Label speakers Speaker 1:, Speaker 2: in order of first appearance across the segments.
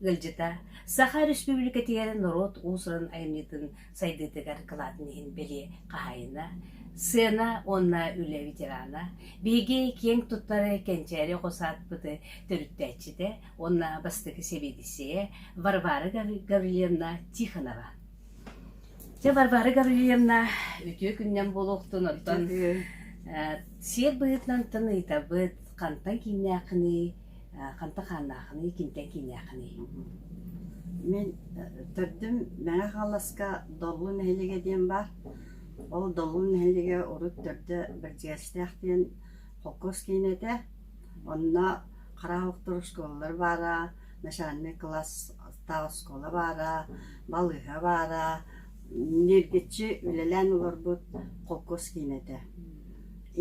Speaker 1: Ыалдьыта Саха Өрөспүүбүлүкэтигэр норуот уусурун айымньытын сайдыытыгар кылаатын иһин бэлиэ хаһаайына, сыана уонна үлэ ветерана, биһиги киэҥ туттары кэнчээри оҕо саадпыты төрүттээччитэ уонна бастакы сэбиэдиссэйэ Варвара Гаврильевна Тихонова. Дьэ, Варвара Гаврильевна, үтүө күннэн буолуохтун, оттон сиэр быһыытынан таныйтабыт, хантан кииннээххиний, ханта хааннааххыный киниттэн кииннээххиний
Speaker 2: мин төрдүм мэҥэ хаҥаласка доллу нэһилиэгэ диэн баар ол доллу нэһилиэгэ урут төрдө бэрдьигэстээх диэн холкуос киинэтэ онно хараҕа охтор оскуолалар баара начальнай кылаастаах оскуола баара балыыһа баара ньиргиччи үлэлээн олорбут холкуос киинэтэ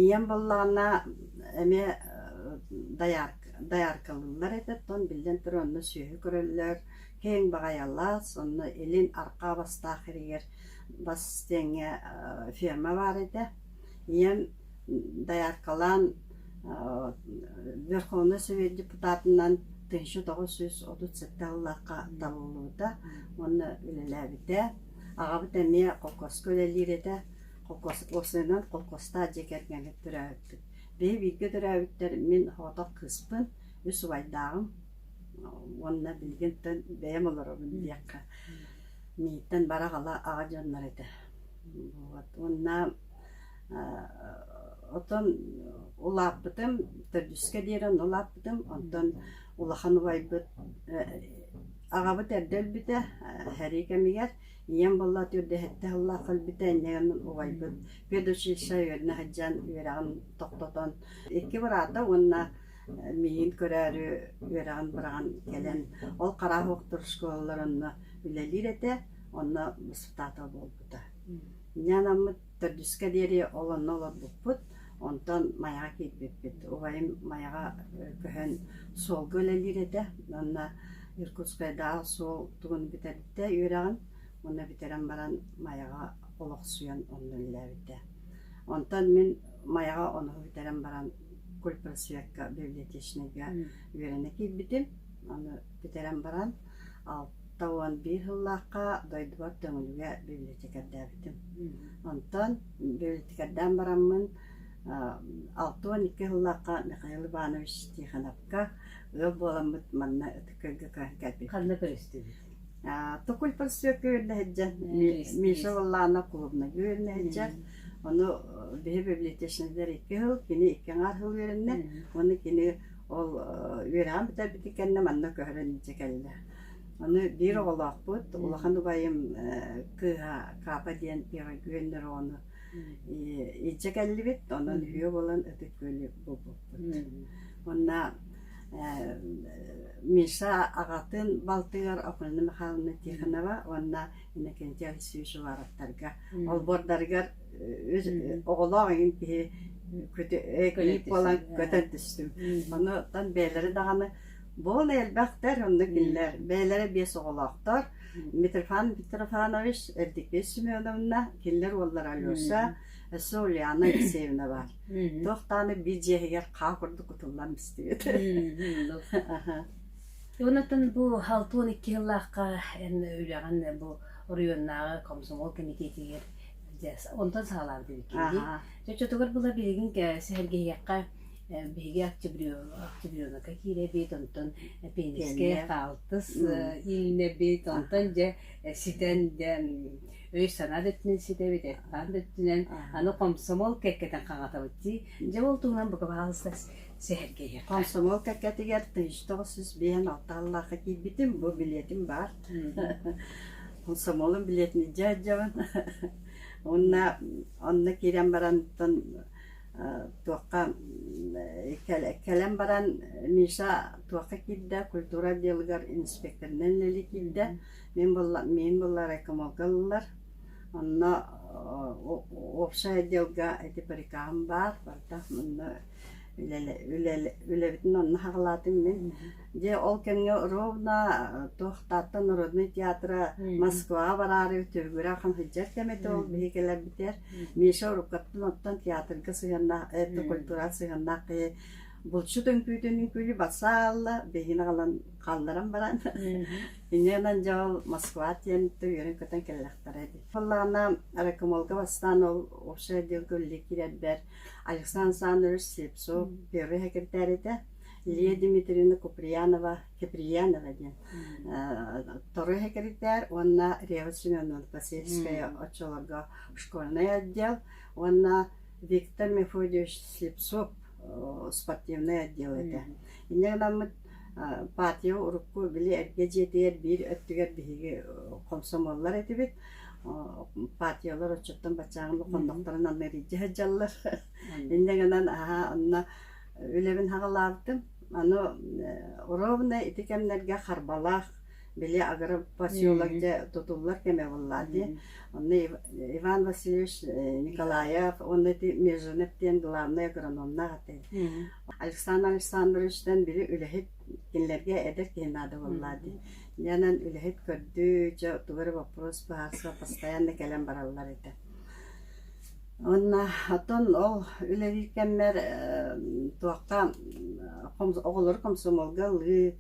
Speaker 2: ийэм буллаҕына эмиэ дайааркалыыллар этэ оттон биллэн турар онно сүөһү көрөллөр киэҥ баҕайылаах онно илин арҕаа бастаах иригэр бас диэҥҥэ ферма баар этэ ийэм дайааркалаан верховнай совет депутатынан тысяча тоҕус жүз отут сэттэ сыллаахха талыллыбыта уонна үлэлээбитэ аҕабыт эмиэ холкуоска үлэлиир этэ Осенан колхозтаах дьиэ кэргэни төрөөбүппүт. Биһи бииргэ төрөөбүттэр мин соҕотох кыыспын, үс убайдааҕым уонна билигинтэн бэйэм олоробун диэххэ. Мииттэн барах-ала аҕа дьоннор этэ. Вот. Уонна отон улааппытым төрдүскэ диэри онно улааппытым онтон улахан убайбыт аҕабыт эрдэ өлбүтэ сэрии кэмигэр ийэм буолла төрдүһэттэ сыллаах кэлбитэ иннигэн убайбыт предучилище үөрүнэ сылдьан үөрэҕин тохтотон икки быраата уонна миигин көрөөрү үөрэҕин быраҕан кэлэн ол хараахуоктур школалар онно үлэлиир этэ онно воспитатель буолбута Нянаммыт төрдүскэ диэри ол онно олорбуппут онтон майаҕа киирбиппит убайым майаҕа көһөн суолга үлэлиир этэ уонна иркутскайдааҕы суол тугун бүтэрбитэ үөрэҕин уонна бүтэрэн баран майаҕа олохсуйан онно үлэлээбитэ онтон мин майаҕа ону бүтэрэн баран культпросвекка библиотечнайга үөрэнэ киирбитим аны бүтэрэн баран Тоҕуон биир сыллаахха дойдубар Төҥүлүгэ библиотекардаабытым. Онтон библиотекардаан бараммын алта уон икки сыллаахха Михаил Иванович Тихоновка ыал буоламмыт манна ытык-өйгө кэлбиппит. Ханна көрүстүбүт?
Speaker 1: Токуль
Speaker 2: проспекка үөрнэһэрдьэн Миша Валлаанап клубнайга үөрнэһэрдьэн. Ону биһи библиотечныйдар икки сыл, кини икки аҥаар сыл үөрэннэ. Уонна кини ол үөрэҕин бүтэрбитин кэннэ манна көһөрөн илдьэ кэллэ. Аны биир оҕолоохпут, улахан убайым кыыһа Каапа диэн Ирогүөннэр оҕону илдьэ кэллибит, онон үһүө буолан ытык күөлү булбуппут. Онно Миша аҕатын балтыгар Африна Михайловна Тихонова уонна Иннокентий Алексеевич Уваровтарга олбуордарыгар оҕолоох эҥин киһи ыйык буолан көтөн түстүм. Онутан бэйэлэрэ даҕаны Бу ол элбэхтэр, оннук биллэр. Бэйэлэрэ биэс оҕолоохтор. Митрофан Митрофанович, Эрдиккей Семеновна, кинилэр уоллара Леша, өссө Ульяна Алексеевна баар. Туох даҕаны биир дьиэһигэр хаа курдук кутуллан истибит.
Speaker 1: Оннуттан бу алты он икки сыллаахха үлэҕин бу оройуоннааҕы комсомол комитетигэр онтон саалаабыт эбиккин дии. Чочотугар була билигин сэргэһиэххэ Биһиги Октябренака киирэбит, онтон пенискэ хаалтыс иилинэбит, онтон дьэ ситэн диэн өй-санаа да өттүнэн ситэбит, эт-аан да өттүнэн аны комсомол кэккэтин хаҕатабыт дии. Дьэ ол туһунан бука баҕалыста сэһэргэһиэххэ. Комсомол кэккэтигэр
Speaker 2: тыйыс тоҕус сүүс биэһин алта аллаахха киирбитим, бу билиэтим баар. Комсомолун билиэтин дьэ дьабын. Уонна онно киирэн барантан туохха кэлэн баран Миша туохха киирдэ культура отделыгар инспекторынан үлэлии киирдэ мин мин буолла райкомолга ыллылар онно общий отделга ити прикаһым баар барыта онно үлэбитин онно хаҕалаатым мин Дьэ ол кэмҥэ ровно туох Таатта народнай театра Москваҕа бараары Түргүрэ хан сылдьар кэм этэ ол биһи кэлэрбитигэр Миша уруккаттан оттон театрга сыһыаннаах это культура сыһыаннаах киһи булчут үҥкүүтүн үҥкүүлүү басаалла биһини галан хаалларан баран иннэнэн дьол Москва диэн үөрэн көтөн кэллэхтэрэ ити Фаллаана ракомолга бастаан ол вообще отдел көлле кирэрбэр Александр Александрович Слепцов первый секретарь этэ Лия Дмитриевна Куприянова Киприянова диэн тору сэкиритээр уонна Рева Семеновна Васильская оччолорго школьнай отдел уонна Виктор Мефодьевич Слепцов спортивнай отдел этэ. Иннэ гынаммыт патия урукку били эргэ дьиэтигэр биир өттүгэр биһиги комсомоллар этибит. Патиялар оччоттон баччааҕын хоннохторун анна илдьэ сылдьаллар. Иннэ гынан аһаа онно үлэбин аҕалаабытым. Аны ровно ити кэмнэргэ харбалаах били агропоселок дьэ тутуллар кэмэ буоллаат дии. Онно Иван Васильевич Николаев уонна ити Межинев диэн главный агрономнаах отель. Александр Александровичтан били үлэһит кинилэргэ эдэр киһи наада буоллаа дии. Дьэнэн үлэһит көрдүү дьэ тугу эрэ боппуруос быһаарсыба постоянно кэлэн бараллар этэ. Уонна оттон ол үлэлиир кэммэр туохха оҕолору комсомолга ылыы,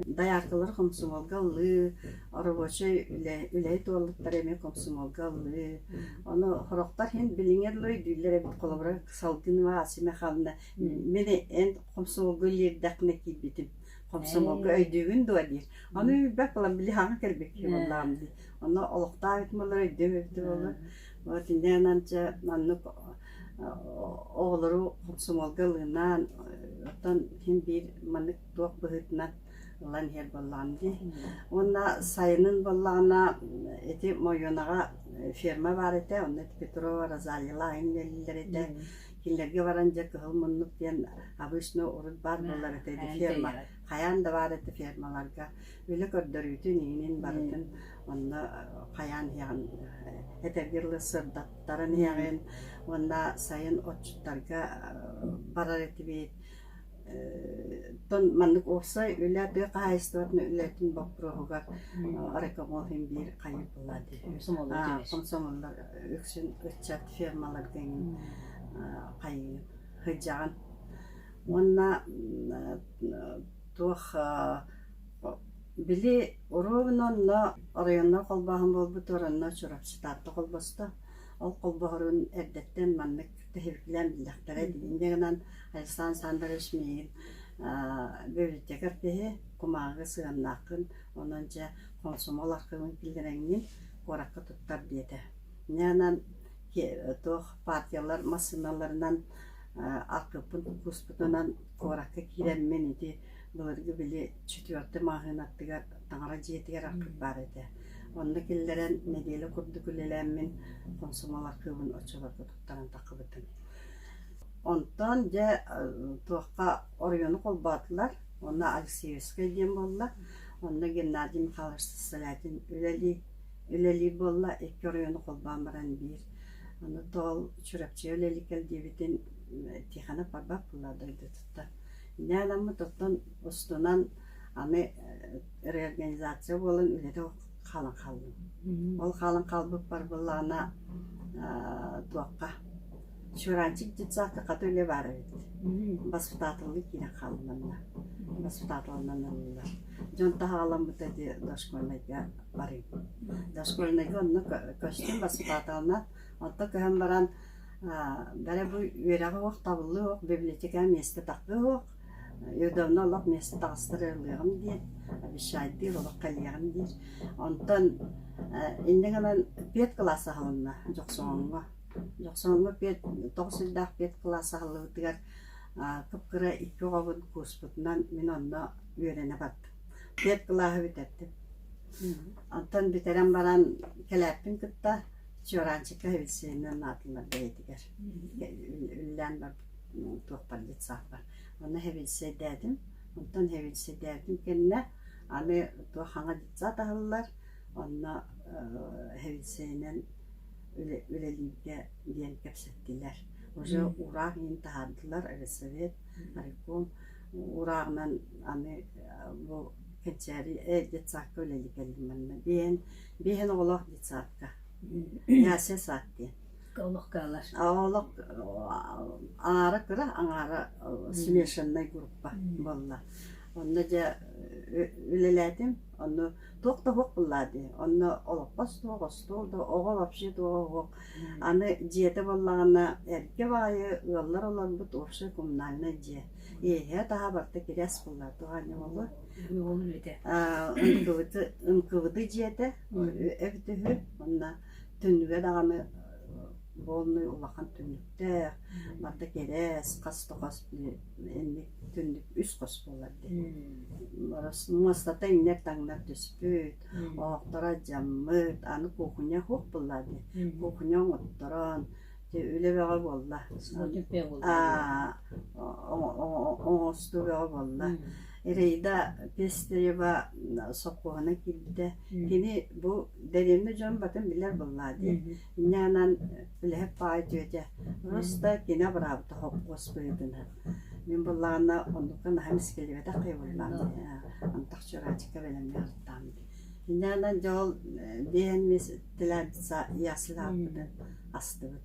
Speaker 2: дайаакылары комсомолга ылыы, оробуочай үлэ үлэһит уоллуктары эмиэ комсомолга ылыы. Ону сорохтор иһин билиҥҥи дылы өйдүүллэр эбит холобура Салгынова Ася Михайловна мин эн комсомолга үлэлиирдэхпинэ киирбитим. Комсомолга өйдүүгүн дуо диир. Ону өйбөт буолан били хаҥа кэлбиккин буоллаҕым дии. Ону олохтоох этим буоллар өйдүөм эбитэ буоллар Вот иннинэн андьа маннык оҕолору хомсомуолга ылынаан оттон син биир маннык туох быһыытынан ылан иһэр буоллаҕым дии уонна сайынын буоллаҕына ити Мойуонаҕа ферма баар этэ онно ити Петрова Розалила айан иҥнэллэр этэ кинилэргэ баран дьэ кыһыл муннук диэн обычно урут баар буолар этэ ити ферма хайаан да баар этэ фермаларга үлэ көрдөрүүтүн иһинин барытын онно хайаан иһэҕин этэргэ дылы сырдаттаран иһэҕин уонна сайын отчуттарга барар этибит тон маннык уопсай үлэ тыа хаһаайыстыбатын үлэтин боппуруоһугар рекомол иһин биир хайыпылат комсомоллар үксүн ыччат фермаларга хайыы сыдьаҕын уонна туох Били ровно онно оройуоннай холбооһун буолбутугар онно Чурапчы Таатта холбосто. Ол холбоһорун эрдэттэн маннык тэһиликилээн биллэхтэрэ. Инньэ гынан Александр Александрович миигин библиотекарь киһи, кумааҕыга сыһыаннааххын, онон дьэ хомсомуол архыыбын киллэрэҥҥин, куоракка туттар диэтэ. Инньэ гынан туох партиялар массыыналарынан архыыппын кууспутунан куоракка киирэммин ити Былыргы били четвертый маҕаһыын аттыгар таҥара дьиэтигэр арпыт баар этэ. Онно киллэрэн нэдиэлэ курдук үлэлээммин хомсомуол архыыбын оччолорго туттаран таххыбытым. Онтон дьэ туохха оройуону холбоотулар. Онно Алексеевскай диэн буолла. Онно Геннадий Михайлович Салятин үлэлии үлэлиир буолла. Икки оройуону холбоон баран биир. Аны Тоол Чурапчыга үлэлии кэл диэбитин Тихонов барбат буолла дойдутуттан. Дээнэммит оттон устунан аны реорганизация буолан үлэтэ хаалан хааллым. Ол хаалан хаалбыппар былаана туохха Чуранчик детсадка хата үлэ баар эбит. Баспытаатыллыы киирэн хааллынна. Баспытаатылынан ыллылар. Дьон таһааламмыта дии дошкольнайга барыым. Дошкольнайга онно көстүм баспытааталынан. Оттон көһөн баран Бары бу үөрэҕи оһох табыллыа оһох, библиотека миэстэ тахлыа оһох, Евдовна олох миэстэ таҕыстар ыаллыаҕым диир, обещайдыыр, олох кэлиэҕим диир. Онтон иннэ гынан пиэт кылаас аһылынна Дьохсоҕоҥҥо. Дьохсоҕоҥҥо пиэт тоҕус сирдээх пиэт кылаас аһыллыбытыгар кып-кыра икки оҕобун кууспутунан мин онно үөрэнэ бардым. Пиэт кылааһы бүтэрдим. Оттон бүтэрэн баран кэлээппин кытта Чуораанчыкка эвиссиэнинэн аатылар бэйэтигэр үллээн барбыт туохпардьыт саахпар. Онно эвиссиэйдээтим, онтон эвиссиэйдээтим кэннэ аны туох хаҥа детсад аһыллар, онно эвиссиэнинэн үлэлииргэ диэн кэпсэттилэр. Уже ураа иһин таһаардылар Ресовет, райком урааҕынан аны бу кэнчээри детсадка үлэлии кэллим манна диэн биэһин оҕолоох детсадка яся сад диэн олох каалар
Speaker 1: олох
Speaker 2: аара кыра аҥаара смешаннай группа буолла онно дьэ үлэлээтим онно туох да уһук буллаа дии онно олоппос туох остуол да оҕо вообще туох уһук аны дьиэтэ буоллаҕына эргэ баайы ыаллар олорбут общий коммунальнай дьиэ иэһэ таһа барта кирэс буллар туһаанньа буолуо
Speaker 1: уол үлэтэ ынкыбыты ынкыбыты
Speaker 2: дьиэтэ эбит үһү онно түннүгэ даҕаны буолунуй улахан түннүктээх барда кэрэс хас да хос инник түннүк үс хос буолар дии муостата иҥнэр таҥнар түспүт оһохторо дьаммыт аны кухня хух булла дии кухня оҥотторон Дьэ үлэ бөҕө буолла. Аа оҥостуу бөҕө буолла. Рейда пестерева сокуона киирдэ. Кини бу дэриэбинэ дьон батын билэр буоллаа дии. Инньээнэн үлэһит паайтүөтэ. Просто кино быраабыта хоппуос быһыытынан. Мин буллаҕына оннукка наһаа мискилибэтэх кыйбыллаам дии. Антах чураачыкка бэлэмҥэ артаам дии. Инньээнэн дьэ ол биэһэн мис тилээмписа ясылааппытын астыбыт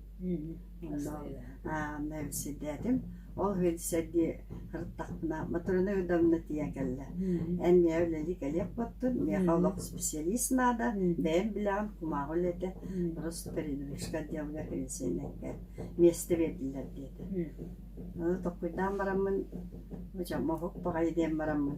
Speaker 2: онно сирдээтим ол сэргии сырыттахпына моторина удобно тиийэ кэллэ эн миэхэ үлэлии кэлиэх буоттун миэхэ олох специалист наада бэйэм билэҕин кумааҕы үлэтэ просто передвижка отделыгар перенесеннэккэ миэстэ биэрдилэр диэтэ тоқуйдаан бараммын мохук баҕайы диэн бараммын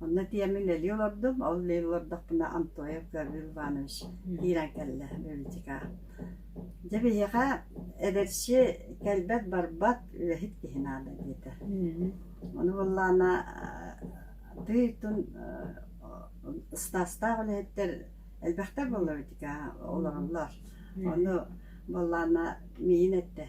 Speaker 2: Онно тиэммин үлэлии олордум. Ол үлэлии олордохпуна Антоев Гаврил Иванович киирэн кэллэ Өлүчүкэ. Дьэ биһиэхэ эдэрчи кэлбэт-барбат үлэһит киһи наада диэтэ. Ону буоллаана тыый-тун ыстаастаах үлэһиттэр элбэхтэр буолла Өлүчүкэ олороллор. Ону буоллаана миин эттэ.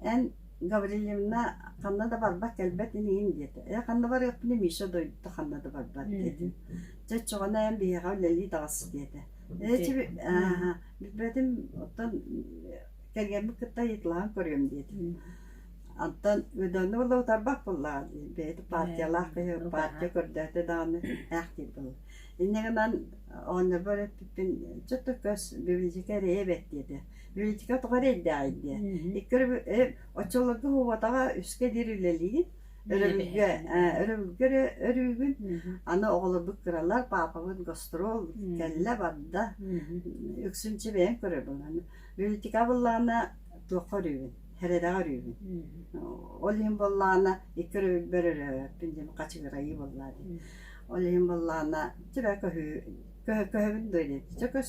Speaker 2: Эн Гаврильевна ханна да барбат-кэлбэт ини иһин диэтэ. Ээ ханна барыахпыный Миша дойдута ханна да барбат этим. Дьэ оччоҕуна эн биһиэхэ үлэлии таҕыс диэтэ. Ээ чи ааһа билбэтим оттон кэргэммит кытта ыйыталаан көрүөм диэтим. Оттон Өдөөнү уола утарбах буллаҕа дии. Бэйэтэ партиялаах киһи партия көрдөөтө даҕаны ээхтиир буолла. Иннэ гынан оонньорбор эппиппин чэ төкөс бибилдьикэ эрэйэ эбэт диэтэ. Миитика тоҕо эрэйдээх дии. Икки өрө оччолорго уһуубатаҕа үскэ диэри үлэлиигин, өрөбүлгэ өрөбүлгэ өрүүгүн. Аны оҕолорбут кыралар, паапабыт гастрол кэллэ барда. Үксүнчү бэйэм көрөр боланы. Миитика быллаана туохха өрүүгүн, хередаҕа өрүүгүн. Ол иһин боллаана икки өрөбүлбэр өрөөппүн диэн хачыгырайыы боллаа дии. Ол иһин боллаана түбэ көһүү көһөбүн дойду. Чөкөс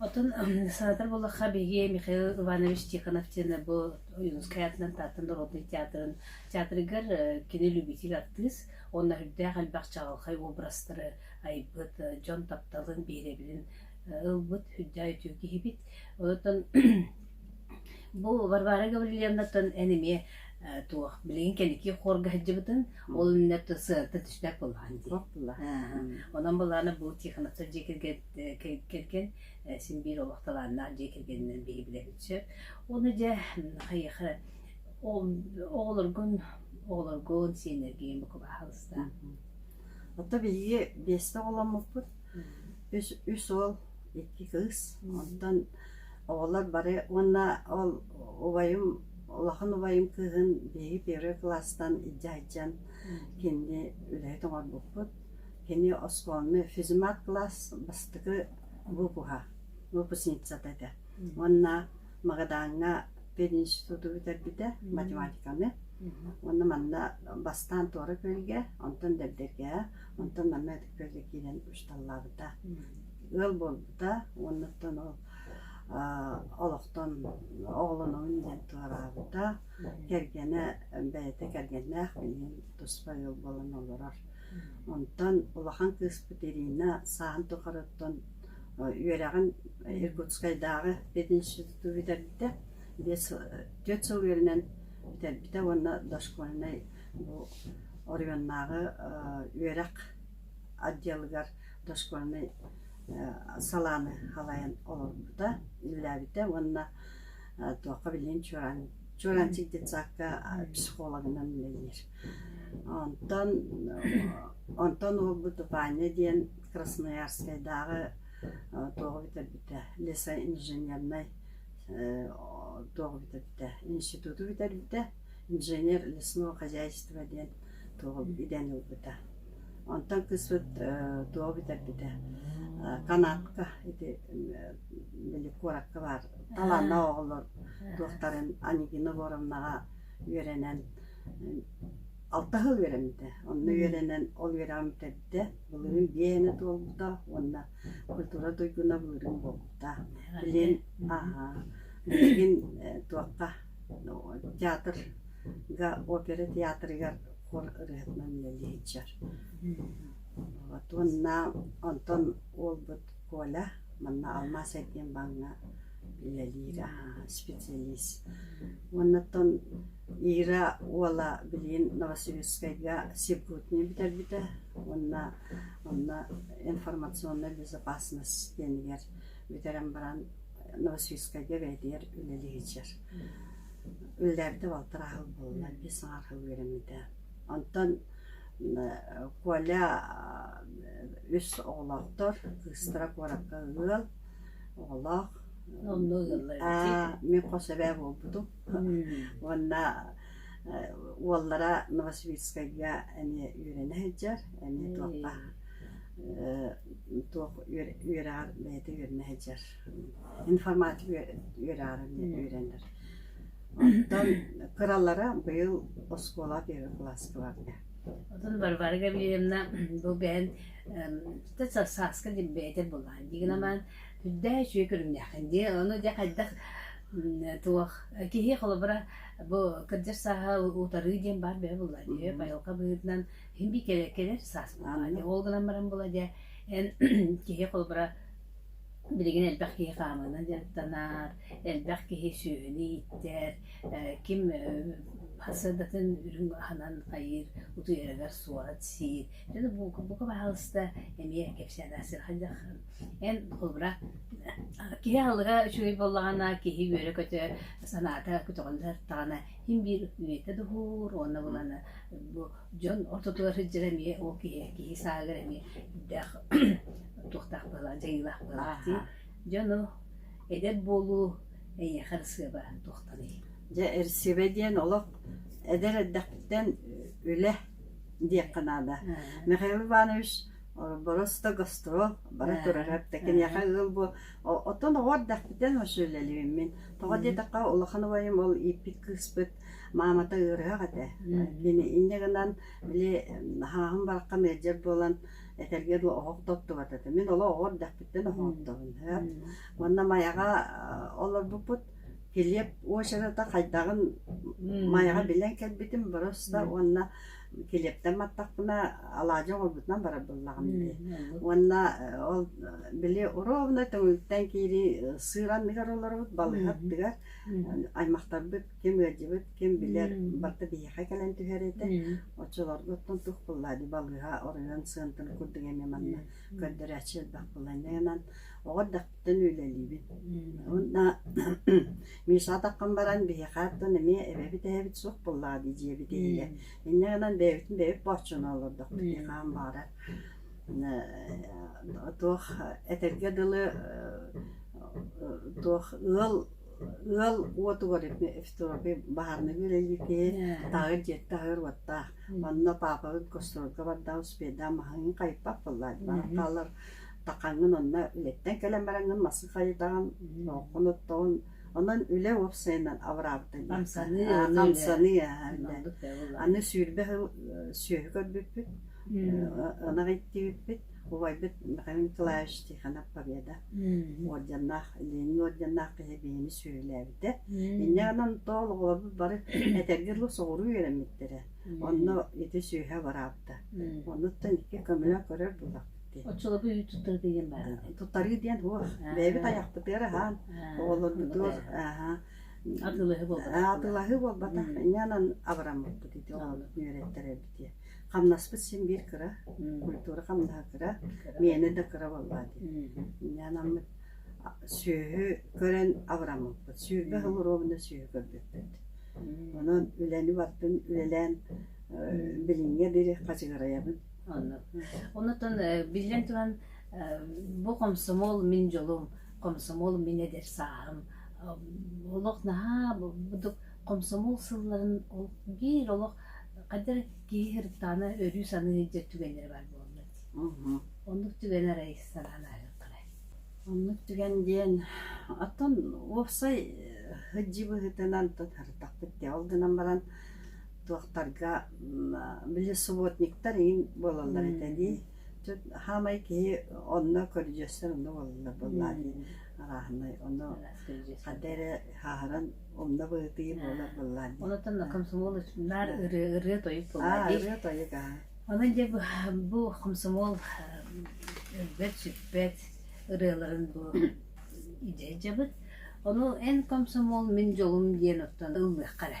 Speaker 2: Оттон
Speaker 1: сенатор буоллахха биһиги Михаил Иванович Тихонов диэн бу Ойуунускай аатынан Тааттан народнай театрын театрыгар кини любитель артыыс уонна үрдээх элбэх чаҕылхай образтары айбыт, дьон тапталын, биһирэбилин ылбыт, үрдээх үтүө киһибит. Оттон бу Варвара Гаврильевнаттан эн эмиэ туох билигин кэнники хуорга сылдьыбытын ол иннинэ сыарта түсбэт буоллаҕа дии. Онон былаана бу Тихоновтар дьиэ кэргэн кэргэн син биир олох талааннаах дьиэ кэргэнинэн биһи билэбит сөп. Ону дьэ хайыха оҕолоргун оҕолоргун сиэннэргин бука баһалыстаан.
Speaker 2: Оттон биһиги биэстэ оҕоломмуппут. Үс үс уол, икки кыыс. Оттон оҕолор бары уонна ол убайым улахан убайым кыыһын биһиги первый кылаастан илдьэ сылдьан кинини үлэһит оҥорбуппут. Кини оскуоланы физмат-кылаас бастакы выпуһа, выпускницата этэ. Уонна Магадааҥҥа пединституту бүтэрбитэ, математиканы. Уонна манна бастаан Туора Күөлгэ, онтон Дэгдэргэҕэ, онтон манна Ытык Күөлгэ киирэн учууталлаабыта. Ыал буолбута, уоннаттан ол олохтон оҕолонуун диэн туораабыта. Кэргэнэ, бэйэтэ кэргэннээх, билигин туспа ыал буолан олорор. Онтон улахан кыыспыт Ирина саан тухарыттан үөрэҕин Иркутскайдааҕы пединституту бүтэрбитэ, биэс түөрт сыл үөрэнэн бүтэрбитэ уонна дошкольнай бу оройуоннааҕы үөрэх отделыгар дошкольнай салааны халайан олорбута, үлэлээбитэ уонна туохха биллин Чуораанчык детсадка психологынан үлэлиир. Онтон онтон уол Бутупаанньа диэн Красноярскайдааҕы туоҕу бүтэрбитэ лесоинженернай туоҕу бүтэрбитэ институту бүтэрбитэ инженер лесное хозяйство диэн туоҕу идэни ылбыта онтон кыспыт туоҕу бүтэрбитэ канатка ити били куоракка баар талааннаах оҕолор туохтарын Анигина Егоровнаҕа үөрэнэн алтаһа үөрэммитэ. Онно үөрэнэн ол үөрэҕин бүтэрдэ. Былырыын биээнэ туолбута уонна культура туйгуна былырыын буолбута. Билигин аһаа билигин туохха театрга опера театрыгар хор ырыатынан үлэлии сылдьар. Вот уонна онтон уолбут Коля манна алмаас эргиэн бааҥҥа үлэлиир аһаа специалист. Уонна оттон Ира уола билигин Новосибирскайга Сипутни бүтэрбитэ уонна онно информационнай безопасность диэнигэр бүтэрэн баран Новосибирскайга бэйэтигэр үлэлиһиччэр. Үлэлээбитэ балтараа хыл буолла, биир саҥа хыл үөрэммитэ. Онтон Коля үс оҕолоохтор, кыыстара куоракка ыал, оҕолоох. Мин хос эбээ буолбутум. уонна уоллара Новосибирскайга эмиэ үөрэнэ сылдьар, эмиэ туохха туох үөрэҕэр бэйэтэ үөрэнэ сылдьар, информатика үөрэҕэр үөрэнэр. Оттон кыралара быйыл оскуола первый кылааскыларга. Оттон Варвара
Speaker 1: Гаврильевна бу бэйэн сааска бэйэтэ булаан. Дигинаман Дьэ, үчүгэй көрүҥнээххин дии. Ону дьэ хайдах туох киһи холобура бу кырдьар сааһы утарыы диэн баар бэйэ буолла дии. Поилка быһыытынан иһин би кэлэр кэлэр саас буолла дии. Ол гынан баран була дьэ эн киһи холобура билигин элбэх киһи хаамыынан дьарыктанар, элбэх киһи сүөһүнү ииттэр, ким сыадатын үрүҥ аһынан хайыыр, утуйарыгар суорат сиир. Дьэ бука баҕалыста эмиэ кэпсээнэ сир хайдах Эн холобура киһи аһылыга үчүгэй буоллаҕына киһи үөрэ-көтө санаата көтөҕүн сардаҕына син биир үөрэтэ духуур уонна булана бу дьон ортотугар сылдьар эмиэ ол киһи киһи сааһыгар эмиэ элбэх туохтаах буолаҕын дьайыылаах буолаҕын дии дьону эдэр буолуу эйиэхэ ырысыаба туохтаный дьэ ырысыаба
Speaker 2: диэн олох эдэр эрдэхтэн үлэ диэххэ наада михаил иванович Борос да гастро бара турарар да киниэхэ ыал буо оттон оҕо эрдэхпитэн вообще үлэлиибиммин тоҕо диэтэххэ улахан убайым ол ииппит кыыспыт маамата ыарыһах этэ кини инньэ гынан били наһааһын бараххан ыалдьар буолан этэргэ дылы оһох тоттубат этэ мин олох оҕо эрдэхпиттэн оһох оттобун уонна майаҕа олорбуппут килиэп уочарата хайдаҕын майаҕа билэн кэлбитим борос да уонна Килиэптэн баттахпына алаадьы оҥорбутунан барар буоллаҕым дии. Уонна ол били ровно түҥүктэн киирии сыыран миһэр олоробут балыһа аттыгар. Аймахтарбыт ким ыалдьыбыт, ким билэр барыта биһиэхэ кэлэн түһэр этэ. Оччолорго оттон туох буоллаа дии балыыһа оройуон сыантын курдук эмиэ манна көрдөрөөччү элбэх буолан. Оҕо эрдэхпинэ оттон үлэлиибин. Уонна Миша атаххын баран биһиэхэ оттон эмиэ эбэбит эһэбит суох буоллаҕа дии дьиэбит иһигэр. Иннэ гынан бэйэбитин бэйэбит бооччоно олордохпут дии хаан баара. Туох этэргэ дылы туох ыал ыал уотугар баһарынайга үлэлиир киһи таһыыр дьиэтэ таһыыр уоттаах. Онно паапабын костроолга бардаҕым, спирдаан маһаҥын хайыппат буоллаҕа. Баҕар хаалар Такаҥҥын онно үлэттэн кэлэн бараҥҥын мас хайытаҕын, оҥхону оттоҕун, онон үлэ уопсайынан абыраабытын хамсаныы,
Speaker 1: хамсаныы аһарда.
Speaker 2: Аны сүүрбэ сыл сүөһү көрбүппүт, ынах иттибиппит, убайбыт Михаил Николаевич Тихонов Победа уордьаннаах, Ленин уордьаннаах киһи биһими сүөһүлээбитэ. Инньэ гынан тоол оҕолорбут бары этэргэ дылы соҕуруу үөрэммиттэрэ. Онно ити сүөһү абыраабыта. Оннуттан икки көмөлөн көрөр булах. Оччолорго үүт туттарыы
Speaker 1: диэн баар. Туттарыы диэн уо
Speaker 2: бэйэбит айахпытыгар аһаан оҕолорбутугар аһаан
Speaker 1: атылаһы буолбатах атылаһы буолбатах
Speaker 2: иннэнэн абыраммыппыт ити оҕолорбут үөрэттэрэрбит диye хамнаспыт син биир кыра культура хамнаһа кыра миэнэ да кыра боллаат иннэнаммыт сүөһү көрөн абыраммыппыт сүөһү холоруобунда сүөһү көрбүппүт онон үлэни бартын үлэлээн билиҥҥэ дири хачыгырайабын
Speaker 1: Онутан биллэн туран бу комсомол мин дьолум, комсомол мин эдэр сааһым. Олох наһаа бурдук комсомол сылларын ол биир олох хайдах киһи сырыттаҕына өрүү саныы сылдьар түгэннэрэ баар буолла дии. Оннук түгэн арай санаан ааһыахтарай. Оннук
Speaker 2: түгэн диэн оттон уопсай сылдьыы быһыытынан тутатахпыт дии. Ол гынан баран туохтарга били субботниктар иин буолаллар этэ дии хаамай киһи онно көрүдьүөстэр онно буолаллар буоллаа дии арааһынай ону хадда эрэ хааһыран умна быһытыы буолар буоллаа дии онутан комсомол
Speaker 1: наар ырыа тойук буоллаа
Speaker 2: дии ырыа тойук аа
Speaker 1: аны дьэ бу комсомол өлбөт сүппэт ырыаларын бу идэ дьабыт ону эн комсомол мин дьолум диэн оттон ыллыахха эрэ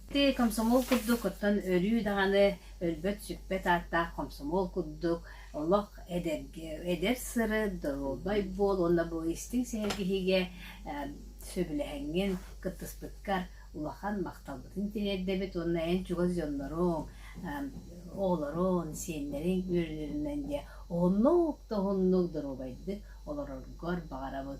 Speaker 2: Дии,
Speaker 1: комсомол курдук, оттон өрүү даҕаны өлбөт-сүппэт ааттаах комсомол курдук олох эдэргэ, эдэр сыры, доруобай буол уонна бу истиҥ сэһэргэһиигэ сөбүлэһэҥҥин, кыттыспыккар улахан махталбытын тириэрдэбит уонна эн чугас дьонноруҥ, оҕолоруҥ, сиэннэриҥ үөрүүлэринэн диэ оннук да уһуннук доруобайдык олороргор баҕарабын.